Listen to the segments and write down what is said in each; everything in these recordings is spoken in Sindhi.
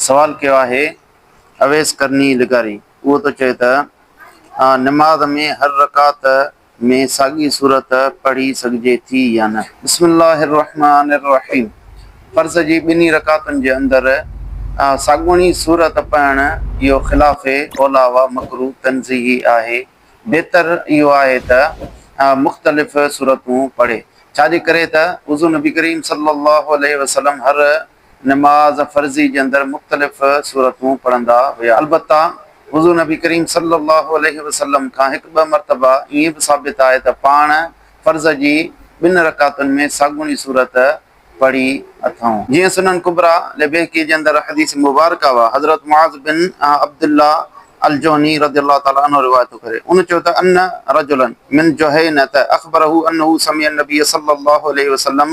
سوال ڪيو آهي اويس قرني لغاري اهو ٿو چئي ته نماز ۾ هر رڪعت ۾ ساڳي سورت پڙهي سگهجي ٿي يا نه. بسم الله الرحمٰن الرحيم فرض جي ٻنهي رڪعتن جي اندر ساڳوڻي سورت پڙهڻ اهو خلاف اوليٰ و مڪروه تنزيهي آهي بهتر اهو آهي ته مختلف سورتون پڙهي ڇا جي ڪري ته حضور نبي ڪريم صلي الله عليه وسلم هر نماز فرضي جي اندر مختلف سورتون پڙهندا هيا. البته حضور نبي ڪريم صلّي اللّٰه عليه وسلّم کان هڪ ٻه مرتبه ائين به ثابت آهي ته پاڻ فرض جي ٻن رڪعتن ۾ ساڳوڻي سورت پڙهي اٿئون. جيئن سنن ڪبريٰ لبيهقي جي اندر حديث مبارڪه اها حضرت معاذ بن عبدالله الجهني رضي الله تعالٰي عنه روايت ٿو ڪري ان چيو ته ان رجلا من جهينة اخبره انه سمع النبي صلّي اللّٰه عليه وسلّم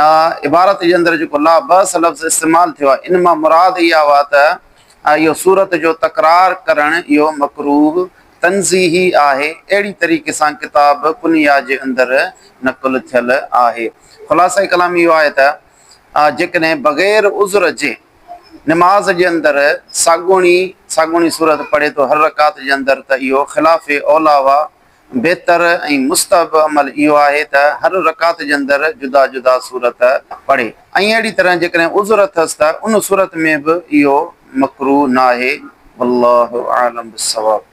۽ عبارت جي اندر جيڪو لا بئس لفظ استعمال ٿيو آهي، ان مان مراد اها هئا ته اهو صورت جو تڪرار ڪرڻ اهو مڪروه تنزيهي آهي، اهڙي طريقي سان ڪتاب ڪنيا جي اندر نقل ٿيل آهي. خلاصه ڪلام اهو آهي ته جيڪڏهن بغير عذر جي نماز جي اندر ساڳوڻي ساڳوڻي صورت پڙهي ٿو هر رڪعت جي اندر ته اهو خلاف اوليٰ هئا بهتر ۽ مستحب عمل اهو آهي ته هر رڪعت جي اندر جدا جدا سورت پڙهي ۽ اهڙي طرح جيڪڏهن عذر اٿس ته ان صورت ۾ به اهو مڪروه ناهي والله اعلم بالصواب.